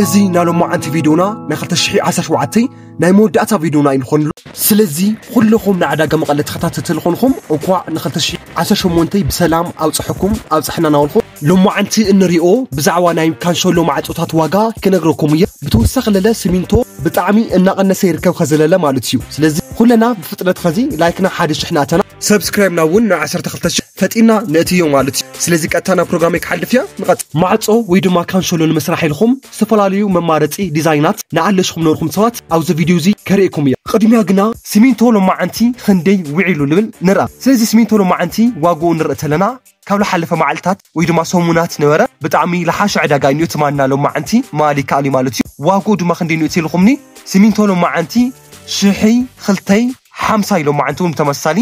እዚ ናይ ሎማዓንቲ ቪድዮና ናይ 2017 ናይ መወዳእታ ቪድዮና ይንኾን ኣሎ ስለዚ ኩልኹም ናይ ዕዳጋ መቐለ ተኸታተልቲ ዝኾንኹም እንኳዕ ን2018 ብሰላም ኣብፀሐኩም ኣብፀሐና ናበልኹ ሎማዓንቲ እንሪኦ ብዛዕባ ናይ ካንሸሎ ማዕፆታት ዋጋ ክነግረኩም እየ ብተወሳኺ ለለ ሲሚንቶ ብጣዕሚ እናቐነሰ ይርከብ ኸዚ ለለ ማለት እዩ ስለዚ ኩለና ብፍጥነት ኸዚ ላይክና ሓደ ሽሕ ንኣተና ሰብስክራይብ ናብ እውን ናብ 12 ሽሕ ፈጢና ነእትዮ ማለት እዩ ስለዚ ቀጥታ ናብ ፕሮግራመይ ክሓልፍ እያ ንቐፅ ማዕፆ ወይ ድማ ካንሸሎ ንምስራሕ ኢልኹም ዝተፈላለዩ መማረፂ ዲዛይናት ንኣለሽኹም ነርኹም ሰባት ኣብዚ ቪድዮ እዚ ከርእየኩም እየ ቅድሚያ ግና ሲሚንቶ ሎማዓንቲ ኽንደይ ውዒሉ ንብል ንርኣ ስለዚ ሲሚንቶ ሎማዓንቲ ዋግኡ ንርኢ ተለና ካብ ልሓለፈ ማዕልታት ወይ ድማ ሰሙናት ነበረ ብጣዕሚ ልሓሸ ዕዳጋ ኢንኦ ትማና ሎማዓንቲ ምባል ይካኣል ኢዩ ማለት ኢዩ ዋግኡ ድማ ክንደይ ኢንኦ ኢልኹምኒ ሲሚንቶ ሎማዓንቲ ሽሒ ኽልተይ ሓምሳ ኢዩ ሎማዓንቲ ውን ብተመሳሳሊ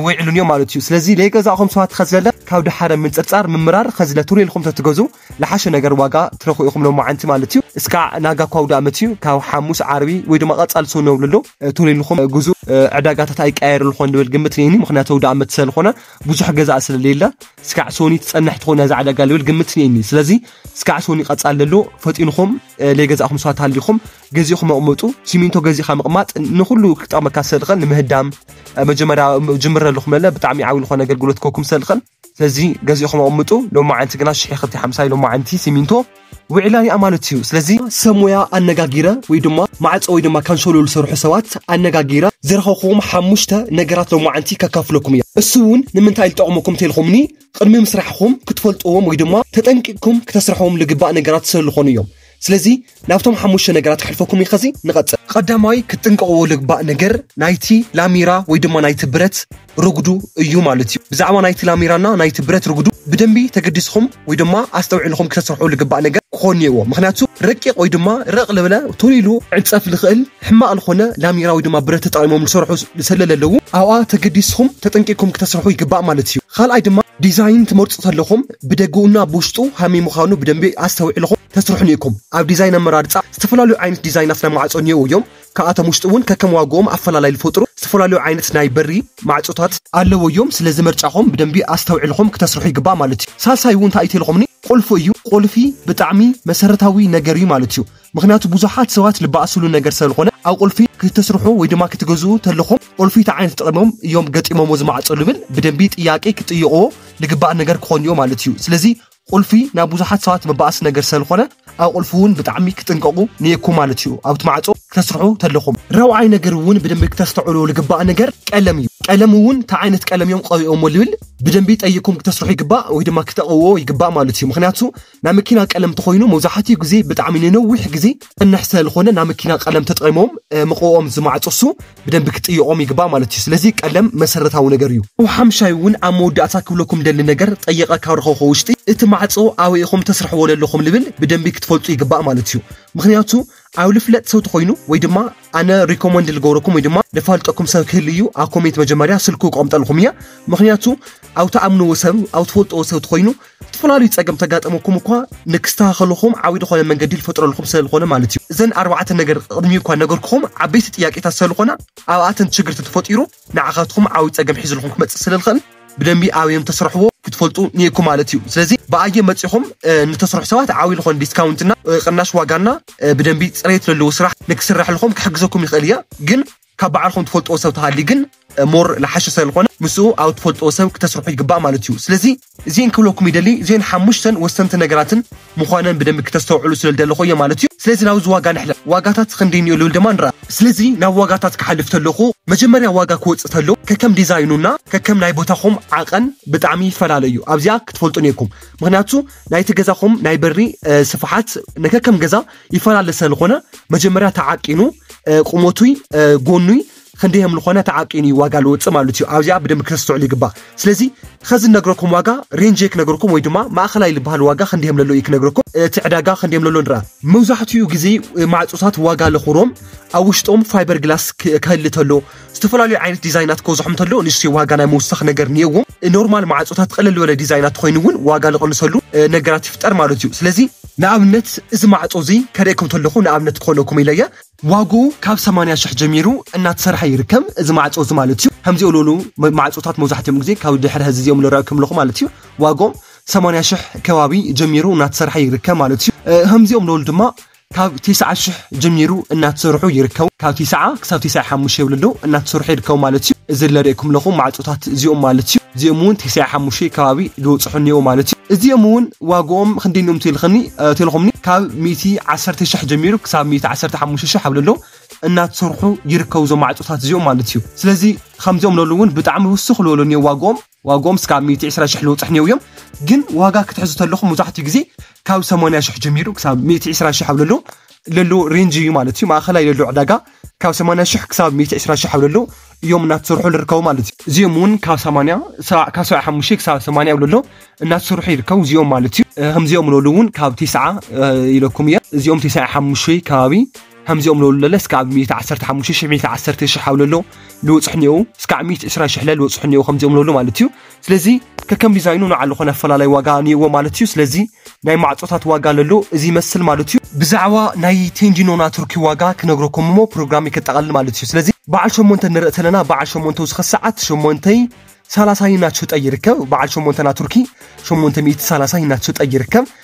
ዊዒሉ ኢንኦ ማለት ኢዩ ስለዚ ለይገዛእኹም ሰባት ኸዝለለ ካብ ድሓረ ምንጽርጻር ምምራር ኸዝለ ቱር ኢልኹም ተትገዝኡ ልሓሸ ነገር ዋጋ ትረኽቡ ኢኹም ሎማዓንቲ ማለት ኢዩ እስካዕ ናጋ እኳ ኣውዳኣመት ኢዩ ካብ ሓሙስ ዓርቢ ወይ ድማ ቐጻሊ ሰኑ ነብለሉ ቱር ኢልኹም ግዝኡ ዕዳጋታት ኣይቀያየርልኾን ልብል ግምት ኔኒ ምኽንያቱ ኣውዳኣመት ሰለኾነ ብዙሕ ገዛእ ስለሌለ ስካዕ ሶኒ ትጸንሕ ትኾን ነዛ ዕዳጋ ልብል ግምት ስኒኒ ስለዚ ስካዕ ሶኒ ቀጻል ለሎ ፈጢንኹም ለይገዛእኹም ሰባት ሃሊኹም ገዚእኹም መቕመጡ ሲሚንቶ ገዚእኻ ምቕማጥ ንኹሉ ክጠቕመካ ሰልኸል ንምህዳም መጀመርያ ጅምረ ኣለኹም ለለ ብጣዕሚ ዓብዪ ዝኾነ ኣገልግሎት ከኩም ሰልኸል ስለዚ ገዚእኹም ኣቕምጡ ሎማዓንቲ ግና ሽሕ ክልተ ሓምሳ ሎማዓንቲ ሲሚንቶ ውዒላ ናይ ኣማልት እዩ ስለዚ ሰብ ሞያ ኣነጋጊረ ወይ ድማ ማዕፆ ወይ ድማ ካንሶሎ ዝሰርሑ ሰባት ኣነጋጊረ ዝረኸብኩዎም ሓሙሽተ ነገራት ሎማዓንቲ ከካፍለኩም እየ እሱ እውን ንምንታይ ልጠቕመኩም ተልኹምኒ ቕድሚ ምስራሕኹም ክትፈልጥዎም ወይ ድማ ተጠንቂቕኩም ክተስርሕዎም ልግባእ ነገራት ስለልኾኑ እዮም ስለዚ ናብቶም ሓሙሽተ ነገራት ከሕልፈኩም እየ ኸዚ ንቐፅል። ቐዳማይ ክትጥንቀቕዎ ልግባእ ነገር ናይቲ ላሚራ ወይ ድማ ናይቲ ብረት ርጉዱ እዩ ማለት እዩ። ብዛዕባ ናይቲ ላሚራና ናይቲ ብረት ርጉዱ ብደንቢ ተገዲስኹም ወይ ድማ ኣስተውዒልኹም ክተስርሑ ልግባእ ነገር ክኾን ኔዎ ምኽንያቱ ረቂቕ ወይ ድማ ረቕ ልብለ ቶሎ ኢሉ ዕጸፍ ልኽእል ሕማቕ ልኾነ ላሚራ ወይ ድማ ብረት ተጠቒሞም ልሰርሑ ሰለ ለለዉ ኣብኣ ተገዲስኹም ተጠንቂቕኩም ክተስርሑ ይግባእ ማለት እዩ። ኻልኣይ ድማ ዲዛይን ትመርጹ ተለኹም ብደገኡ እና ብውሽጡ ሀመይ ምዃኑ ብደንቢ ኣስተውዒልኹም ተስርሑ ኔኩም። ኣብ ዲዛይን ኣመራርጻ ዝተፈላለዩ ዓይነት ዲዛይናት ናይ ማዕጾ ኔዉ እዮም። ካብኣቶም ውሽጢ እውን ከከም ዋግኦም ኣፈላላይ ልፈጥሩ ዝተፈላለዩ ዓይነት ናይ በሪ ማዕፆታት ኣለዉ እዮም ስለዚ መርጫኹም ብደንቢ ኣስተውዒልኹም ክተስርሑ ይግባእ ማለት እዩ ሳልሳይ እውን እንታይ እዩ ተልኹምኒ ቁልፉ እዩ ቁልፊ ብጣዕሚ መሰረታዊ ነገር እዩ ማለት እዩ ምኽንያቱ ብዙሓት ሰባት ልባኣስሉ ነገር ሰለልኾነ ኣብ ቁልፊ ክተስርሑ ወይ ድማ ክትገዝኡ ተልኹም ቁልፊ እንታይ ዓይነት ጠቅሞም እዮም ገጢሞምዎ ዝማዕፆ ልብል ብደንቢ ጥያቄ ክትጥይቅዎ ልግባእ ነገር ክኾን እዮ ማለት እዩ ስለዚ ቁልፊ ናብ ብዙሓት ሰባት መባኣሲ ነገር ሰለኮነ ኣብ ቁልፊ ውን ብጣዕሚ ክጥንቀቁ ኒኤኩም ማለት እዩ ኣብቲ ማዕጾ ክተስርሑ ተለኩም። ራብዓይ ነገር ውን ብደንቢ ክተስተዑሉ ልግባእ ነገር ቀለም እዩ ቀለም ውን ታይ ዓይነት ቀለም እዮም ቀቢኦሞ ልብል ብደንቢ ጠይቅኩም ክተስርሑ ይግባእ ወይ ድማ ክተቀውዎ ይግባእ ማለት እዩ ምክንያቱ ናይ መኪና ቀለም ተኮይኑ መብዛሓቲኡ ግዜ ብጣዕሚ ንነዊሕ ግዜ ክጸንሕ ሰለልኮነ ናይ መኪና ቀለም ተጠቂሞም መቅብኦም ዝማዕጾ እሱ ብደንቢ ክጥይቆም ይግባእ ማለት እዩ ስለዚ ቀለም መሰረታዊ ነገር እዩ። ብ ሓምሻይ ውን ኣብ መወዳእታ ክብለኩም ደሊ ነገር ጠይቀ ካብ ረከብኩ ውሽጢ እቲ ማዕጾ ኣበይ ኢኩም ተስርሕዎ ለለኩም ልብል ብደንቢ ክትፈልጡ ይግባእ ማለት እዩ ምክንያቱ ኣብ ልፍለጥ ሰብ ተኮይኑ ወይ ድማ ኣነ ሪኮመንድ ልገብረኩም ወይ ድማ ለፋልጠኩም ሰብ ክህሊ እዩ ኣብ ኮሜንት መጀመርያ ስልኩ ክቀምጠልኩም እየ ምክንያቱ ኣብ ትኣምንዎ ሰብ ኣብ ትፈልጥዎ ሰብ ተኮይኑ እተፈላለዩ ጸገም ተጋጠመኩም እኳ ንክስተኻኸልኹም ዓቢ ዝኾነ መንገዲ ልፈጥረልኹም ስለልኾነ ማለት እዩ። እዘን ኣርባዕተ ነገር ቕድሚ እኳ ነገርክኹም ዓበይቲ ጥያቄታት ሰለልኾና ኣብኣተን ችግር ተተፈጢሩ ንዓኻትኹም ዓቢ ጸገም ሒዝልኹም ክመጽእ ስለልኸእል ብደንቢ ኣበዮም ተስረሕዎ ክትፈልጡ ኒኤኩም ማለት እዩ። ስለዚ ብኣየም መጺኹም ንተስርሑ ሰባት ዓቢ ልኾነ ዲስካውንት እና ቕናሽ ዋጋ እና ብደንቢ ጽሬት ለለዎ ስራሕ ንክስረሕልኹም ክሕግዘኩም ይኸእል እየ ግን ካብ ባዕልኹም ትፈልጥዎ ሰብ ተሃልዩ ግን ሞር ልሓሸ ሰለልኾነ ምስኡ ኣብ ትፈልጥዎ ሰብ ክተስርሑ ይግባእ ማለት እዩ ስለዚ እዚኤን ክብለኩም ይደሊ እዚኤን ሓሙሽተን ወሰንቲ ነገራትን ምዃነን ብደንቢ ክተስተውዕሉ ስለልደለኹ እየ ማለት እዩ ስለዚ ናብዚ ዋጋ ንሕለፍ ዋጋታት ክንደይ እንዮ ልብል ድማ ንርኣ። ስለዚ ናብ ዋጋታት ክሓልፍ ተለኹ መጀመርያ ዋጋ ክወጽእ ተሎ ከከም ዲዛይኑ እና ከከም ናይ ቦታኹም ዓቐን ብጣዕሚ ይፈላለ እዩ ኣብዚኣ ክትፈልጡ ኔርኩም ምኽንያቱ ናይቲ ገዛኹም ናይ በሪ ስፍሓት ነከከም ገዛ ይፈላለ ሰልኾነ መጀመርያ ተዓቂኑ ቁመቱይ ጎኑይ ክንደይ ከም ዝኾነ ተዓቂኑ እዩ ዋጋ ዝወፅእ ማለት እዩ ኣብዚኣ ብደንብ ክተስተውዕሉ ይግባእ ስለዚ ከዚ ነግረኩም ዋጋ ሬንጅ ክነግረኩም ወይ ድማ ማእኸላይ ዝበሃል ዋጋ ክንደይ ከም ለሎ እዩ ክነግረኩም እቲ ዕዳጋ ክንደይ ከም ለሎ ንርኣ መብዛሕትኡ ግዜ ማዕፆታት ዋጋ ለኹሮም ኣብ ውሽጦም ፋይበር ግላስ ክህሊ ተሎ ዝተፈላለዩ ዓይነት ዲዛይናት ክበዝሖም እንተሎ ንእሽተይ ዋጋ ናይ ምውሳኽ ነገር እኒኦዎም። ኖርማል ማዕፆታት ቕልል ዝበለ ዲዛይናት ተኾይኑ እውን ዋጋ ዝቕንሰሉ ነገራት ይፍጠር ማለት እዩ። ስለዚ ንኣብነት እዚ ማዕፆ እዚ ከርእየኩም ተለኹ ንኣብነት ክኾነኩም ኢለ እየ። ዋግኡ ካብ ሰማንያ ሽሕ ጀሚሩ እናተሰርሐ ይርከብ እዚ ማዕፆ እዚ ማለት እዩ። ከምዚ ኡሉኡሉ ማዕፆታት መብዛሕቲኦም ግዜ ካብ ድሕሪ ሀዚ እዚኦም ልረኣኩም ኣለኹ ማለት እዩ። ዋግኦም ሰማንያ ሽሕ ከባቢ ጀሚሩ እናተሰርሐ ይርከብ ማለት እዩ። ከምዚኦም ልኡሉ ድማ ካብ ቴስዓ ሽሕ ጀሚሩ እናተሰርሑ ይርከቡ። ካብ ቴስዓ ክሳብ ቴስዓ ሓሙሽተ ወለዶ እናተሰርሑ ይርከቡ ማለት እዩ። እዚ ለርእየኩም ለኹ ማዕጾታት እዚኦም ማለት እዩ። እዚኦም እውን ቴስዓ ሓሙሽተ ከባቢ ልወጽሑ እኒኦ ማለት እዩ። እዚኦም እውን ዋግኦም ኽንደይ እኒኦም ተልኽኒ ተልኹምኒ ካብ ሚእቲ ዓሰርተ ሽሕ ጀሚሩ ክሳብ ሚእቲ ዓሰርተ ሓሙሽተ ሽሕ ኣብ ለሎ እናተሰርሑ ይርከቡ እዞም ማዕጾታት እዚኦም ማለት እዩ። ስለዚ ኸምዚኦም ለሉ እውን ብጣዕሚ ውስኽ ልበሉ እኒኦ ዋግኦም። ዋግኦም እስካብ ሚእቲ ዕስራ ሽሕ ልውጽሕ እኒአው እዮም ግን ዋጋ ክትሕዙ ተለኹም ሙዛሕትኡ ግዜ ካብ ሰማንያ ሽሕ ጀሚሩ ክሳብ ሚእቲ ዕስራ ሽሕ ኣብ ለሎ ለሎ ሬንጅ እዩ ማለት እዩ ማእኸላይ ለሎ ዕዳጋ ካብ ሰማንያ ሽሕ ክሳብ ሚእቲ ዕስራ ሽሕ ኣብ ለሎ እዮም እናተሰርሑ ልርከቡ ማለት እዩ እዚኦም እውን ካብ ሰማንያ ሰባዕ ካብ ሰብዓ ሓሙሽተ ክሳብ ሰማንያ ኣብ ለሎ እናተሰርሑ ይርከቡ እዚኦም ማለት እዩ ከምዚኦም ለሉ እውን ካብ ቴስዓ ኢለኩም እየ እዚኦም ቴስዓ ሓሙሽተ ከባቢ ሀምዚኦም ለሉለለ እስካብ ሚእቲ ዓሰርተ ሓሙሽተ ሽሕ ሚእቲ ዓሰርተ ሽሕ ሃውለሎ ልወጽሑ እኒኦው እስካብ ሚእቲ ዕስራን ሽሕለ ልወጽሑ እኒኦው ከምዚኦም ለሉ ማለት እዩ ስለዚ ከከም ዲዛይኑ ንዓሉ ኾነ ኣፈላላይ ዋጋ ኒኦዎ ማለት እዩ ስለዚ ናይ ማዕጾታት ዋጋ ለሎ እዚ ይመስል ማለት እዩ ብዛዕባ ናይ ቴንጂኖና ቱርኪ ዋጋ ክነግረኩም እሞ ፕሮግራም ከጠቓልል ማለት እዩ ስለዚ በዓል ሸሞንተ ንርኢ ተለና በዓል ሸሞንተ ውስኸ ሰዓት ሸሞንተይ ሳላሳይ እናተሸጠ ይርከብ በዓል ሸሞንተና ቱርኪ ሸሞንተ ሚእቲ ሳላሳይ እናተሸጠ ይርከብ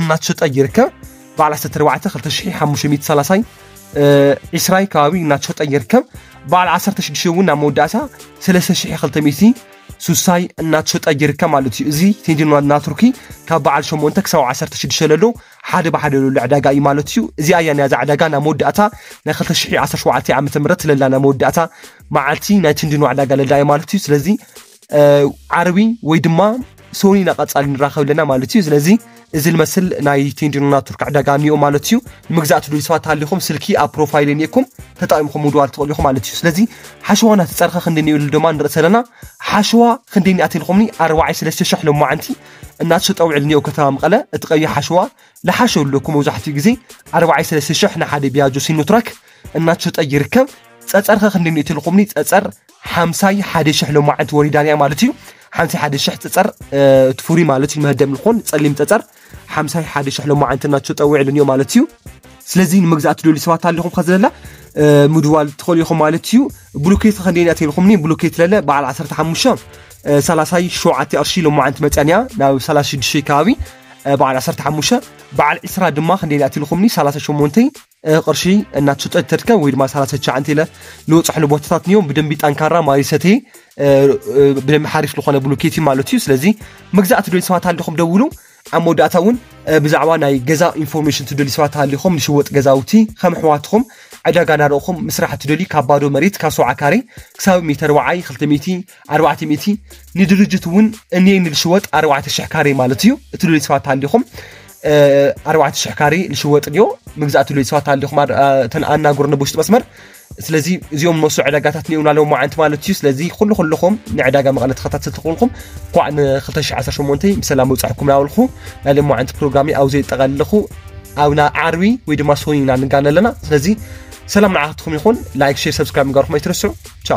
እናተሸጠ ይርከብ። በዓል ዓሰርተ ኣርባዕተ ክልተ ሽሕ ሓሙሽተ ሚእቲ ሰላሳይ ዒስራይ ከባቢ እናተሸጠ ይርከብ። በዓል ዓሰርተ ሽዱሽተ እውን ናብ መወዳእታ ሰለስተ ሽሕ ክልተ ሚእቲ ሱሳይ እናተሸጠ ይርከብ ማለት እዩ። እዚ ቴንጅን ዋና ቱርኪ ካብ በዓል ሸሞንተ ክሳብ ዓሰርተ ሽዱሽተ ለሎ ሓደ ብሓደ ለሎ ዕዳጋ እዩ ማለት እዩ። እዚኣ እያ ናይዛ ዕዳጋ ናብ መወዳእታ ናይ ክልተ ሽሕ ዓሰርተ ሸውዓተ ዓመተ ምህረት ለላ ናይ መወዳእታ መዓልቲ ናይ ቴንጅን ዕዳጋ ለላ እዩ ማለት እዩ። ስለዚ ዓርቢ ወይ ድማ ሶኒ ኢና ቀጻሊ ንራኸብ ኣለና ማለት እዩ ስለዚ እዚ ልመስል ናይ ቴንዲኖና ቱርክ ዕዳጋ እኒኦ ማለት እዩ ንምግዛእ ትደልዩ ሰባት ሃሊኹም ስልኪ ኣብ ፕሮፋይል እኒኤኩም ተጠቂምኩም ምድዋል ትኽእሉ ኢኹም ማለት እዩ ስለዚ ሓሸዋ ናተፀርኸ ክንደ እኒኦ ኢሉ ድማ ንርኢ ዘለና ሓሸዋ ክንደ እኒኣት ኢልኹምኒ ኣርባዓይ ሰለስተ ሽሕ ሎማዓንቲ እናተሸጠ ውዕል እኒኦ ከተማ መቐለ እቲ ቀይሕ ሓሸዋ ልሓሸ ኣለኩም መብዛሕትኡ ግዜ ኣርባዓይ ሰለስተ ሽሕ ንሓደ ቢያጆ ሲኖትራክ እናተሸጠ ይርከብ ፀፀርኸ ክንደ እኒኦ ኢልኹምኒ ፀፀር ሓምሳይ ሓደ ሽሕ ሎማዓንቲ ወሪዳን እያ ማለት እዩ ሓምሳይ ሓደ ሽሕ ፀፀር እቲ ፍሩይ ማለት እዩ መህደም ልኾን ፀሊም ፀፀር ሓምሳይ ሓደ ሽሕ ሎማዓንቲ ናቸው ጠዊዕልን እዮ ማለት እዩ ስለዚ ንመግዛእቲ ደልዩ ሰባት ኣለኹም ከዘለላ ምድዋል ትኽእሉ ኢኹም ማለት እዩ ብሉኬት ከንደይን እያ ተልኹምኒ ብሉኬት ለለ በዓል 15 ሳላሳይ ሸውዓተ ቅርሺ ሎማዓንቲ መፅያን እያ ናብ 36 ከባቢ በዓል 15 በዓል 20 ድማ ክንደይን እያ ተልኹምኒ 38 ቕርሺ እናትሽጠ ተድከም ወይ ድማ ሳላ ሰቻዕንቲ ኢለ ልወፅሕሉ ቦታታት እኒኦም ብደንቢ ጠንካራ ማይ ሰቴ ብደንቢ ሓሪፍ ዝኾነ ብሉኬቲ ማለት እዩ ስለዚ መግዛእ ትደልዩ ሰባት ኣለኹም ደውሉ ኣብ መወዳእታ እውን ብዛዕባ ናይ ገዛ ኢንፎርሜሽን ትደልዩ ሰባት ኣለኹም ንሽወጥ ገዛውቲ ከም ኣሕዋትኹም ዕዳጋ ናርእኹም ምስራሕ ትደልዩ ካብ ባዶ መሬት ካብ ሰውዓ ካሬ ክሳብ ሜተር ወዓይ ክልተ ሚእቲ ኣርባዕተ ሚእቲ ንድርጅት እውን እኔ ንልሽወጥ ኣርባዕተ ሽሕ ካሬ ማለት እዩ እቲ ሉሌት ሰባት ኣሊኹም ኣርባዕተ ሽሕ ካሬ ልሽወጥ ድዮ መግዛእቲ ሉሌት ሰባት ኣሊኹም እተን ኣናገሩ ንብውሽጢ መስመር ስለዚ እዚኦም መሱ ዕዳጋታት ኒኡና ኣለዎ መዓንቲ ማለት እዩ ስለዚ ኩሉ ኩልኹም ንዕዳጋ መቐለ ተኸታተልቲ ኩልኩም ኳዕ ን218 ብሰላም ውፃሕኩም ናበልኹ ናይ ሎም መዓንቲ ፕሮግራሚ ኣብ ዘጠቐልኹ ኣብና ዓርቢ ወይ ድማ ሶኒ ኢና ንጋነ ኣለና ስለዚ ሰላም ንዓትኩም ይኹን ላይክ ሼር ሰብስክራይብ ንጋርኩም ኣይትርስዑ ቻው